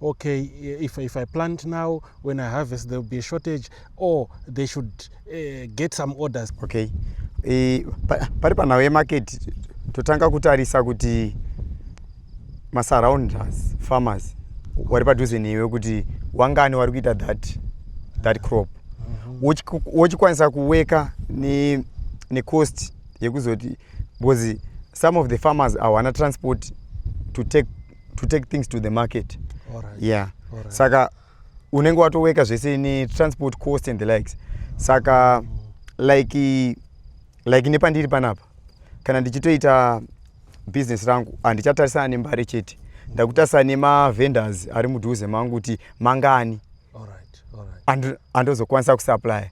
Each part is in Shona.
okay if, if i plant now when i harvest there will be a shortage or they should uh, get some orders okay e, pari panhau yemarket totanga kutarisa kuti masurrounders farmers wari padhuze newe kuti wangani wari kuita that, that crop mhm. wochikwanisa mm -hmm. kuweka necost ne yekuzoti because some of the farmers awana transport to take to take things to the market Alright. yeah Alright. saka unenge watoweka zvese netransport cost and the likes saka like like nepandiri panapa kana ndichitoita business rangu handichatarisana nembare chete ndakutarisana nemavendors ari mudhuze mangu kuti mangani Alright. Alright. ando- andozokwanisa kusupply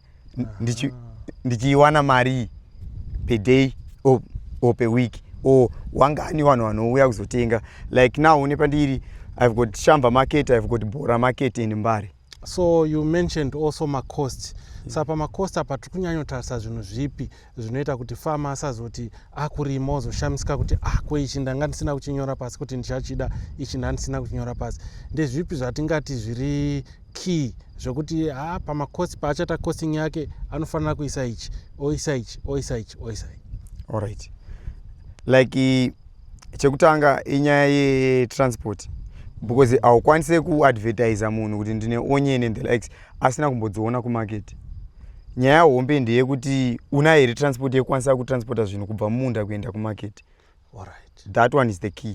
ndichiiwana marii per day or, or per week or wangani vanhu vanouya kuzotenga like now une pandiri i've got shamba market i've got bora market in mbare so you mentioned also macost mm. saka pamacost apa tiri kunyanyotarisa zvinhu zvipi zvinoita kuti fama asazoti akurima ozoshamisika kuti ah ko ichi ndanga ndisina kuchinyora pasi kuti ndichachida ichi ndandisina kuchinyora pasi ndezvipi zvatingati zviri key zvekuti ha ah, pamakosi paachata costing yake anofanira kuisa ichi oisa ichi oisa ichi oisa ichi allright like chekutanga inyaya yetransport because haukwanise kuadvertisa munhu kuti ndine onyene the likes asina kumbodziona kumarket nyaya hombe ndeyekuti una here transport yekukwanisa kutransporta zvinhu kubva mumunda kuenda kumarket right. that one is the key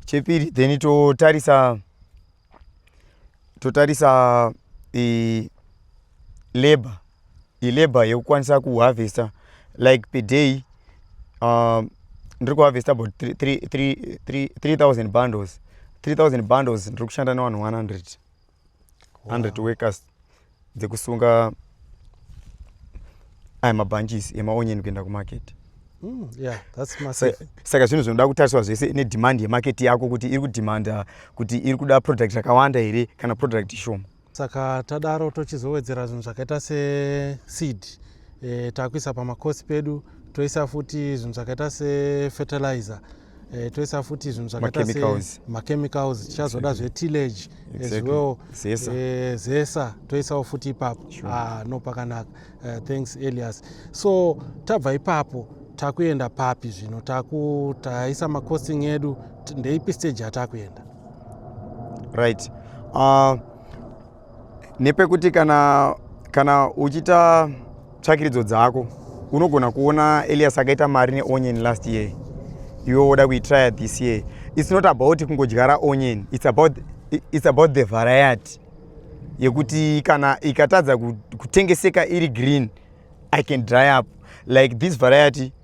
chepiri then totarisa totarisa e, labor ilabor yekukwanisa kuharvesta like per day um, ndiri kuharvesta about 3000 bundles 3000 bundles ndiri kushanda nevanhu 100 100 wow. workers dzekusunga aya mabhanjisi emaonyeni kuenda kumarket mm, saka zvinhu zvinoda kutariswa zvese nedhimandi yemarket yako kuti iri kudhimanda kuti iri kuda product rakawanda here kana product shoma saka tadaro tochizowedzera zvinhu zvakaita seseed e, takuisa pamakosi pedu toisa futi zvinhu zvakaita sefeterlizer e, toisa futi zvinhu zvakaita semachemicals tichazoda zvetillage as well e, zesa toisawo futi ipapo sure. ah, no pakanaka uh, thanks elias so tabva ipapo takuenda papi zvino taku taisa macosting edu ndeipi stage yatakuenda right uh, nepekuti kana kana uchiita tsvakiridzo dzako unogona kuona elias akaita mari neonion last year iwe woda kuitrya this year its not about kungodyara onion its about, it's about the variety yekuti kana ikatadza kutengeseka iri green i can dry up like this variety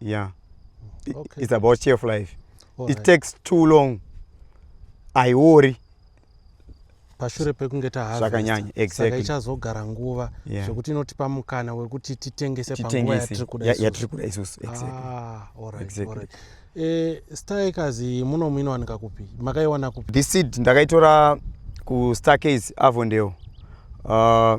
yeah it, okay. it's about cheerful life All it right. takes too long aiori pashure pekunge tahazvakanyanya exactly. ichazogara nguva yeah. zvekuti inotipa mukana wekuti titengese panguva yatiri kuda ya, yatiri kuda isusu exactly. ah, all right, exactly. all right. Eh, starkazi muno muinowanika kupi makaiwana kupi this seed ndakaitora kustarcase avondale uh,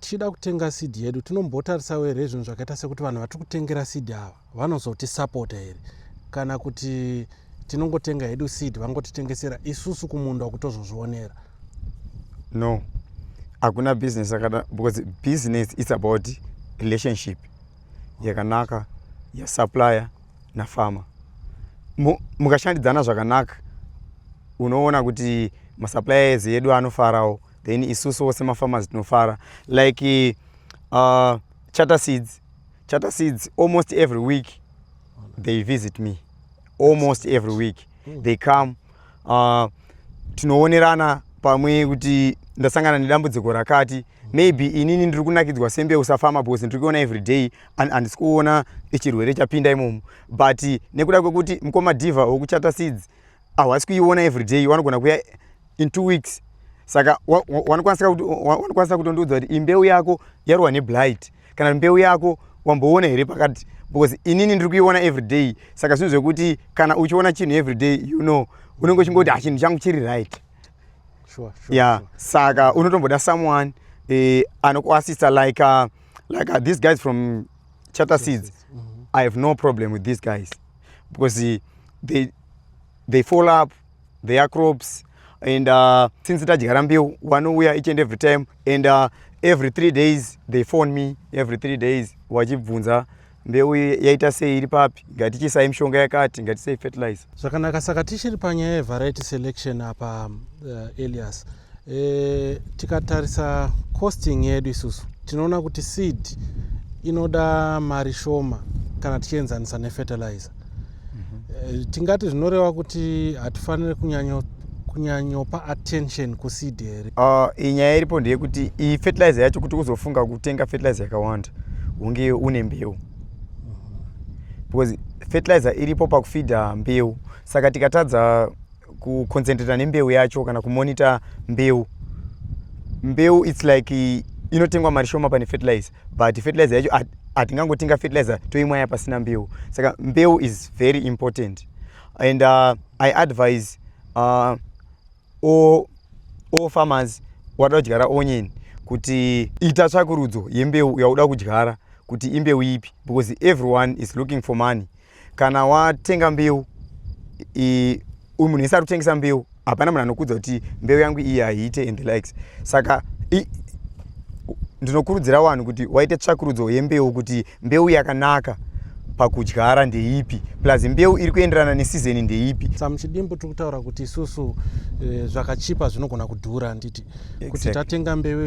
tichida kutenga seed yedu tinombotarisawo here zvinhu zvakaita sekuti vanhu vatiri kutengera seed ava vanozotisapota here kana kuti tinongotenga hedu seed vangotitengesera isusu kumunda kutozozvionera no hakuna business yakada because business its about relationship yakanaka yasupplier nafarmer mukashandidzana zvakanaka unoona kuti masuppliers edu anofarawo then isusuwo semafarmers tinofara like uh, charter seeds charter seeds almost every week they visit me almost every week hmm. they come uh, tinoonerana pamwe kuti ndasangana nedambudziko rakati maybe inini ndiri kunakidzwa sembe usafama because ndiri kuona every day and handisi kuona chirwere chapinda imomo but nekuda kwekuti mukoma diva wekuchata seeds ahwasi kuiona everyday wanogona kuya in two weeks saka wanokwanisa kutondiudza kuti imbeu yako yarwa neblight kana mbeu yako wamboona here pakati because inini ndiri kuiona everyday saka zvinhu zvekuti kana uchiona chinhu everyday you know unenge uchingoti hachinhu ah, changu chiri right sure, sure, yeah sure. saka unotomboda someone eh, anokuasista like uh, like uh, these guys from chatter seeds mm -hmm. i have no problem with these guys because they, they fall up their crops and uh, since tadyara mbeu wanouya each and every time and uh, every three days they phone me every three days wachibvunza mbeu yaita sei iri papi ngatichisai mishonga yakati ngatisei fertilizer zvakanaka saka tichiri panyaya yevariety selection apa uh, elias e, tikatarisa costing yedu isusu tinoona kuti seed inoda mari shoma kana tichienzanisa nefertilizer mm -hmm. e, tingati zvinoreva kuti hatifanire kunyanyo kunyanyopa attention kuseed here uh, inyaya iripo ndeyekuti iyi fertilizer yacho kuti uzofunga kutenga fertilizer yakawanda unge une mbeu mhm. because fertilizer iripo pakufidha mbeu saka tikatadza kuconcentrata nembeu yacho kana kumonita mbeu mbeu its like inotengwa mari shoma pane fertilizer but fertilizer yacho hatingangotenga fertilizer toimwaya pasina mbeu saka mbeu is very important and uh, i advise uh, all, all farmers wada kudyara onion kuti ita tsvakurudzo yembeu yauda kudyara kuti imbeu ipi because everyone is looking for money kana watenga mbeu uyu munhu isi ari kutengesa mbeu hapana munhu anokudza kuti mbeu yangu iyi haiite and likes saka ndinokurudzira vanhu kuti waite tsvakurudzo yembeu kuti mbeu yakanaka pakudyara ndeipi plus mbeu iri kuenderana nesizeni ndeipi samuchidimbu tiri kutaura kuti isusu e, zvakachipa zvinogona kudhura nditi exactly. kuti tatenga mbeu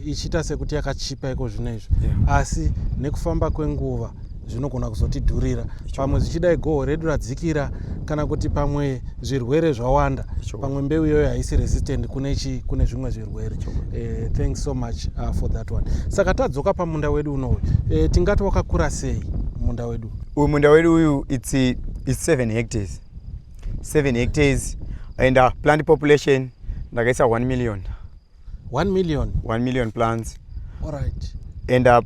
ichiita sekuti yakachipa iko zvino izvi yeah. asi nekufamba kwenguva zvinogona kuzotidhurira pamwe zvichidai goho redu radzikira kana kuti pamwe zvirwere zvawanda pamwe mbeu iyoyo haisi resistant kune chi kune zvimwe zvirwere eh, thanks so much uh, for that one saka tadzoka pamunda wedu unoyu eh, tingati wakakura sei munda wedu uyu munda wedu uyu its, its seven hectares seven hectares and uh, plant population ndakaisa one million 1 million 1 million plants alright and uh,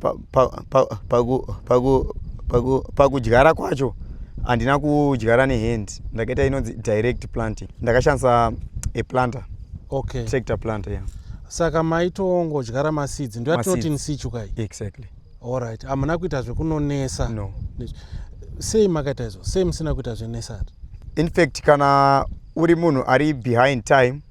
pakudyara kwacho handina kudyara nehand ndakaita inonzi direct planting ndakashandisa a planter okay tractor planter yeah saka maitongodyara maseeds ndo yatinoti nsichu kai exactly alright hamuna kuita zvekunonesa no sei makaita izvo sei musina kuita zvenesari infact kana uri munhu ari behind time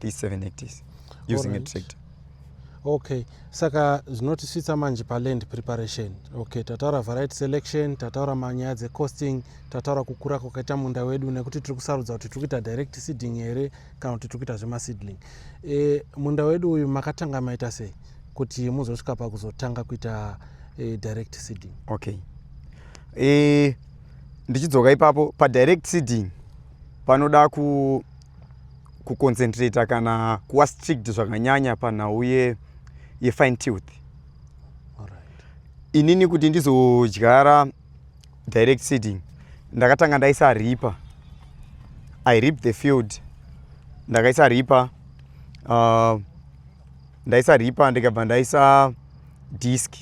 these seven hectares using right. a tractor okay saka zvinotisvitsa manje paland preparation okay tataura variety selection tataura manyaya dzecosting tataura kukura kwakaita munda wedu nekuti tiri kusarudza kuti tiri kuita direct seeding here kana kuti tiri kuita zvemaseedling e, munda wedu uyu makatanga maita sei kuti muzosvika pakuzotanga kuita e, direct seeding okay e, ndichidzoka ipapo padirect seeding panoda ku kuconcentrata kana kuva strict zvakanyanya panhau yefine tooth inini kuti ndizodyara direct seeding ndakatanga ndaisa ripa i rip the field ndakaisa ripa uh, ndaisa ripa ndikabva ndaisa disk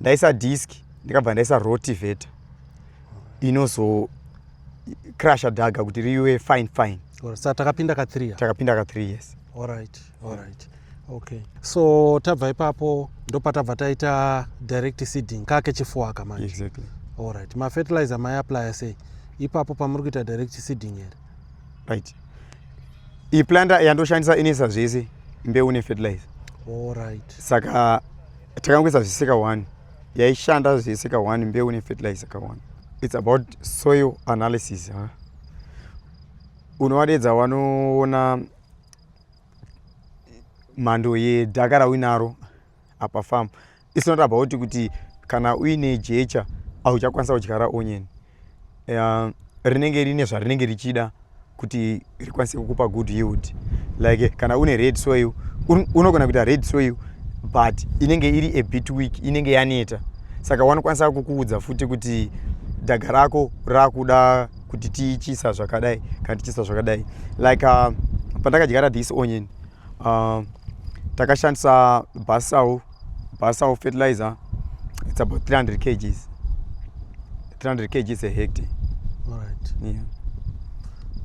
ndaisa disk ndikabva ndaisa rotivator inozo crusher dhaga kuti riwe fine fine sa takapinda ka 3 takapinda ka 3 yes alright alright okay so tabva ipapo ndopatabva taita direct seeding kake chifuwa ka manje exactly alright ma fertilizer mai apply sei ipapo pamuri kuita direct seeding here right iyi planter yandoshandisa inesa zvese mbeu ne fertilizer alright saka takangoisa zviseka one yaishanda zvese kawani mbeu nefertilizer kawani its about soil analysis huh? unovadeedza wanoona mhando yedhaka rauinaro apa fam its not about kuti kana uine jecha auchakwanisa kudyara onion uh, rinenge rine zvarinenge richida kuti rikwanise kukupa good yield like kana une red soil un, unogona kuita red soil but inenge iri a bit week inenge yaneta saka wanokwanisa kukuudza futi kuti dhaga rako rakuda kuti tichisa zvakadai kana tichisa zvakadai like uh, pandakadyara this onion uh, takashandisa basau Basa of fertilizer it's about 300 kgs 300 kgs a hectare all right yeah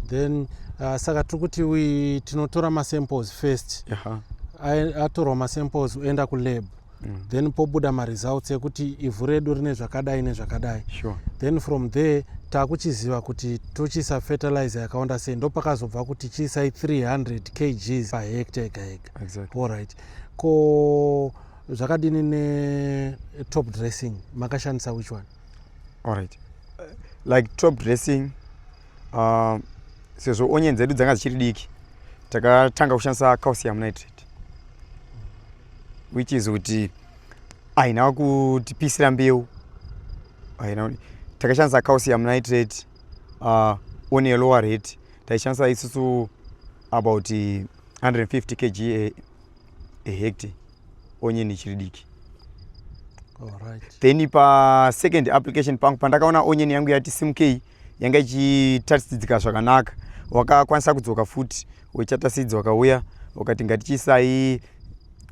then uh, saka tiri kuti we tinotora masamples first yeah. atorwa masamples oenda kulab mm. then pobuda maresults ekuti ivhu redu rine zvakadai nezvakadai sure. then from there taakuchiziva kuti tochiisa fertilizer yakawanda sei ndopakazobva kuti chiisai 300 kgs pahecta ega ega exactly. allright ko zvakadini netop dressing makashandisa which one allright like top dressing uh, sezvo onye dzedu dzanga dzichiri diki takatanga kushandisa calcium nitrate which is kuti aina kutipisira mbeu takashandisa calcium nitrate uh, one lower rate taishandisa isusu about 150 kg a, a hectare onion ichiri diki then pa second application pangu pandakaona onion yangu yati simukei yanga ichitasidzika zvakanaka wakakwanisa kudzoka futi wechatasidzi wakauya wakati ngatichiisai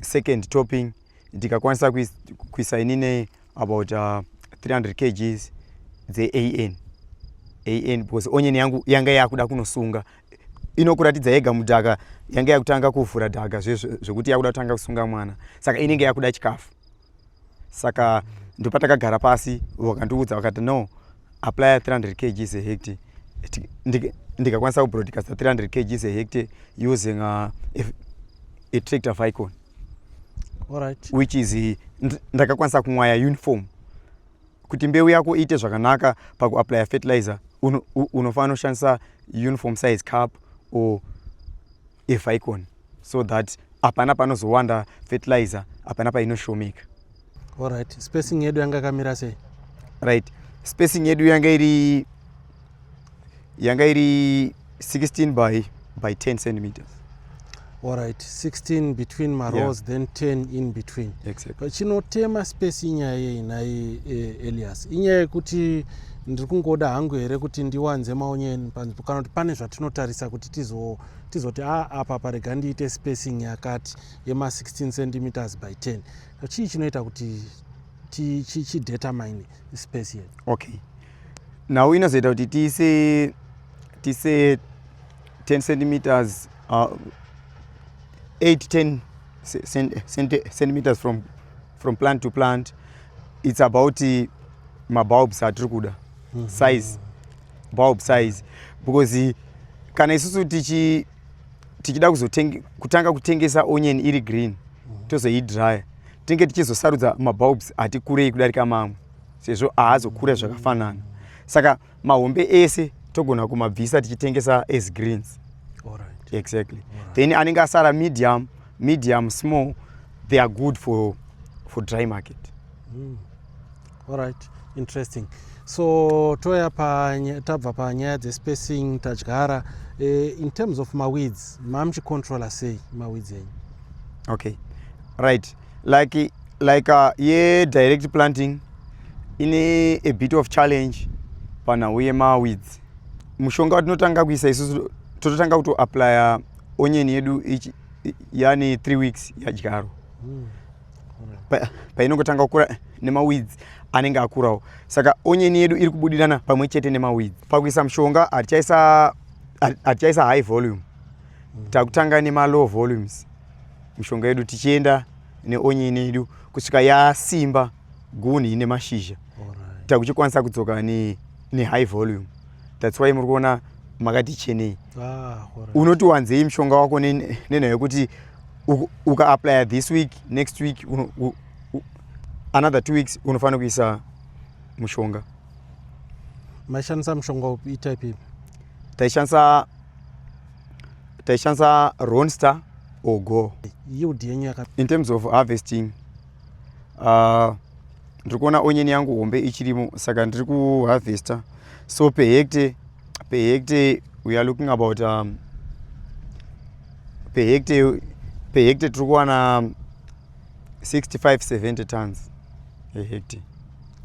second topping ndikakwanisa kuisa inine about uh, 300 kgs dzean an because onion yangu yanga yakuda kunosunga inokuratidza yega mudhaka yange yakutanga kuvhura dhaka zvekuti yakuda kutanga kusunga mwana saka inenge yakuda chikafu saka ndopatakagara pasi vakandiudza vakati no apply 300 kgs ahect ndikakwanisa kubroadcasta 300 kgs ahect using uh, a tractor vicon which is ndakakwanisa kumwaya uniform Kuti mbeu yako iite zvakanaka pakuaplaya fertilizer unofanira kushandisa uniform size cup or eficon so that hapana panozowanda fertilizer hapana painoshomeka right spacing yedu yanga yakamira sei right spacing yedu yanga iri yanga iri 16 by by 10 centimeters all right 16 between marows yeah. then 10 in between exactly. chinotema space inyaya yei nhai eh, elias inyaya yekuti ndiri kungoda hangu here kuti ndiwanze maonyeni panzvimbo kana kuti pane zvatinotarisa kuti tizoti tizo a apa parega ndiite spacing yakati yema 16 centimeters by 10 chii chinoita kuti chidetermine space yedu okay nhau inozoita kuti tiise tiise 10 centimeters uh, 8 10 centimeters from, from plant to plant it's about uh, mabulbs atiri kuda mm -hmm. size bulb size because uh, kana isusu tichi tichida kutanga kutengesa onion iri green mm -hmm. tozoidryer tinenge tichizosarudza mabulbs ati kurei kudarika mamwe sezvo ahazokure zvakafanana saka mahombe ese togona kumabvisa tichitengesa as greens right. exactly right. then anenge asara medium medium small they are good for, for dry market mm. all right interesting so toya tabva panyaya dzespacing tadyara eh, in terms of maweeds mamuchicontrola sei maweeds enyu okay right like like uh, ye direct planting ine a bit of challenge panhau yemaweeds mushonga watinotanga kuisa isusu tototanga kutoaplya onyeni yedu yani 3 weeks yadyaro hmm. painongotanga pa kukura nemaweeds anenge akurawo saka onyeni yedu iri kubudirana pamwe chete nemaweeds pakuisa mushonga hatichaisa high volume hmm. takutanga nemalow volumes mishonga yedu tichienda neonyini yedu kusvika yasimba guni ine mashizha takuchikwanisa kudzoka nehigh volume that's why muri kuona makati chenei ah, unoti wanzei mushonga wako nenhaya yekuti ukaaplya this week next week another two weeks unofanira kuisa mushonga maishandisa mushonga upi itype ipi taishandisa taishandisa ronster or go yield yenyu yaka in terms of harvesting uh, ndiri kuona onyeni yangu hombe ichirimo saka ndiri kuharvesta so pehekte pehekte we are looking about um, pehekte pehekte tiri kuwana 65 70 tons a hectare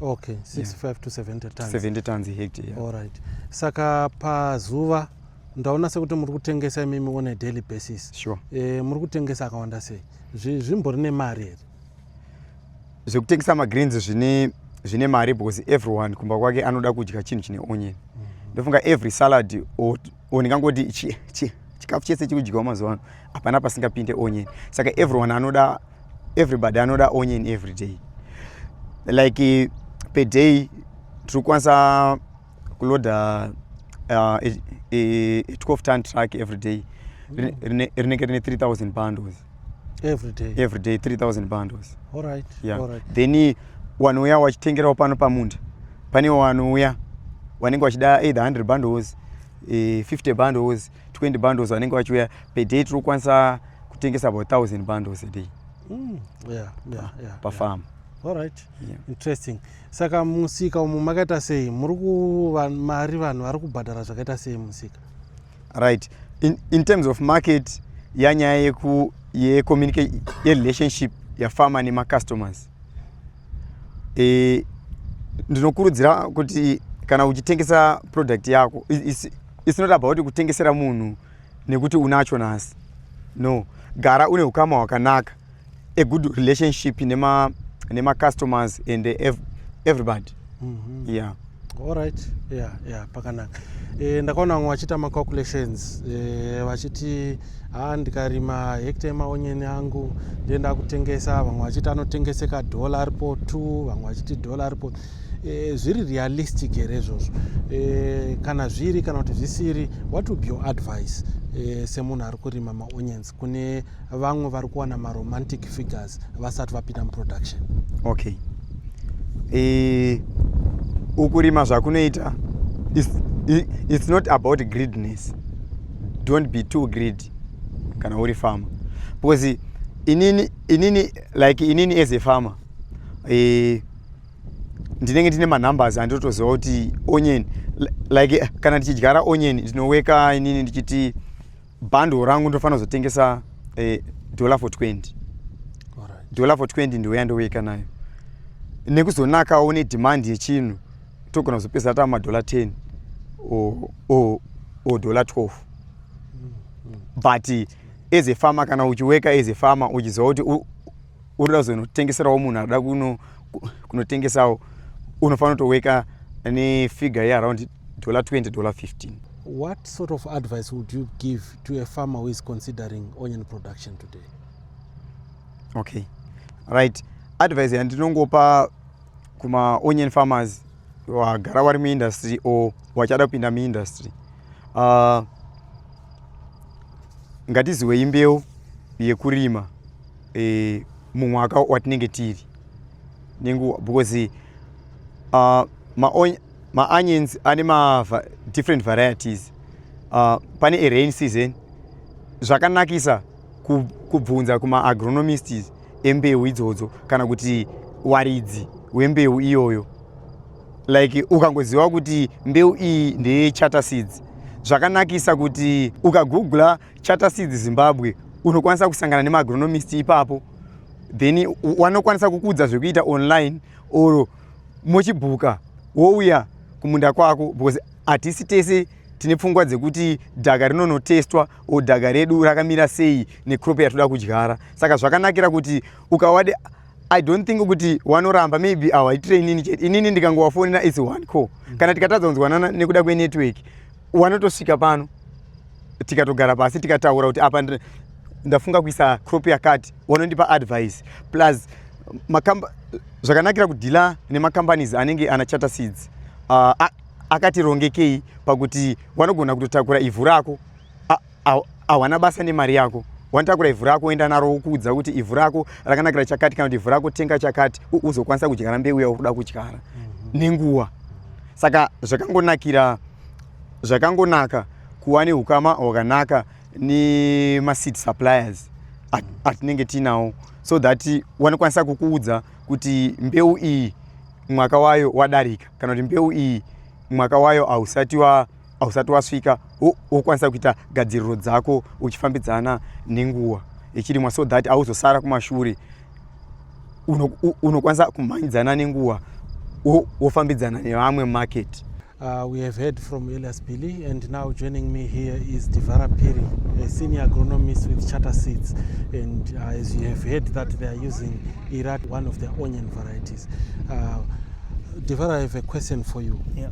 okay 65 yeah. to 70 tons 70 tons a hectare yeah. all right saka pazuva ndaona sekuti muri kutengesa imimi on a daily basis sure. e, muri kutengesa akawanda sei zvimbori nemari here zvekutengesa magreens zvine zvine mari because everyone kumba kwake anoda kudya chinhu chine onion mm -hmm. ndofunga every salad or or ndingangoti chi chi chikafu chese chiri kudyiwa mazuva ano hapana pasingapinde onion saka everyone anoda everybody anoda onion every day like per day tiri kukwanisa kuloda uh, a, a, a 12 ton truck every day rinenge rine 3000 bundles every day every day 3000 bundles all right yeah all right then wanouya wachitengerawo pano pamunda pane wanouya wanenge wachida either 100 bundles e, 50 bundles 20 bundles wanenge wachiuya per day tiri kukwanisa kutengesa about 1000 bundles a day mm, yeah, yeah, yeah, pafarm yeah. Alright. Yeah. Interesting. Saka musika umu makaita sei? Muri kuva mari vanhu vari kubhadhara zvakaita sei musika? right in, in terms of market yanyaya yeku yecommunicate yerelationship yafama nemacustomers e, ndinokurudzira kuti kana uchitengesa product yako it's, it's not about kutengesera munhu nekuti unacho nhasi no gara une ukama hwakanaka a good relationship nema nema customers and ev everybody mm -hmm. yeah alright yeah yeah pakanaka e, ndakaona vamwe vachiita macalculations e, vachiti ha ndikarima hekta yemaonyeni angu ndiye ndakutengesa vamwe vachiti anotengeseka dhola aripo t vamwe vachiti dhola aripo e, zviri realistic here izvozvo e, kana zviri kana kuti zvisiri what would your advice e, semunhu ari kurima maonyens kune vamwe vari kuwana maromantic figures vasati vapinda muproduction okay e, ukurima zvakunoita it's, it's not about greedness don't be too greedy kana uri farmer because inini inini like inini as a farmer e, ndinenge ndine manumbers anditotoziva kuti onion like kana ndichidyara onion ndinoweka inini ndichiti bundle rangu ndofanira kuzotengesa eh, dollar for 20 dollar for 20 ndiwe yandoweka nayo nekuzonakawo une demand yechinhu togona kuzopedzisa tava madollar 10 or dollar 12 but as a farmer kana uchiweka as a farmer uchiziva kuti unoda kuzonotengeserawo munhu akuda kunotengesawo unofanira kutoweka nefigure yearound dollar 20 dollar 15 what sort of advice would you give to a farmer who is considering onion production today okay right advice yandinongopa kumaonion farmers wagara wari muindustry or wachada kupinda muindustry uh, ngatiziwei mbeu yekurima e, mumwaka watinenge tiri nenguva because uh, maonions ma ane ma different varieties uh, pane erain season zvakanakisa kubvunza kumaagronomists embeu idzodzo kana kuti waridzi wembeu iyoyo like ukangoziva kuti mbeu iyi ndeyechata seeds zvakanakisa kuti ukagoogla Charter Seeds Zimbabwe unokwanisa kusangana nemaagronomist ipapo then wanokwanisa kukuudza zvekuita online or mochibhuka wouya kumunda kwako because hatisi tese tine pfungwa dzekuti dhaga rinonotestwa o dhaga redu rakamira sei necrop yatoda kudyara saka zvakanakira kuti ukawade i don't think kuti wanoramba maybe awaitire inini chete inini ndikangowafonera is one co mm. kana tikatadza kunzwanana nekuda kwenetwork wanotosvika pano tikatogara pasi tikataura kuti apa ndafunga kuisa crop yakati wanondipa advice plus makamba zvakanakira kudhila nemacompanies anenge ana charter seeds uh, akatirongekei pakuti wanogona kutotakura ivhu rako hawana basa nemari yako wanotakura ivhu rako woenda naro wokuudza kuti ivhu rako rakanakira chakati kana kuti ivhu rako tenga chakati uzokwanisa kudyara mbeu yauri kuda kudyara mhm. nenguva saka zvakangonakira zvakangonaka kuva neukama hwakanaka nemaseed suppliers atinenge tiinawo so that wanokwanisa kukuudza kuti mbeu iyi mwaka wayo wadarika kana kuti mbeu iyi mwaka wayo hausati wa hausati wasvika wokwanisa kuita gadziriro dzako uchifambidzana nenguva yechirimwa so that auzosara kumashure unokwanisa uno kumhanyidzana nenguva wofambidzana wo nevamwe market Uh, we have heard from Elias Billy, and now joining me here is Divara Piri, a senior agronomist with Charter Seeds. And uh, as you have heard, that they are using Irat, one of their onion varieties. Uh, Divara, I have a question for you. Yeah.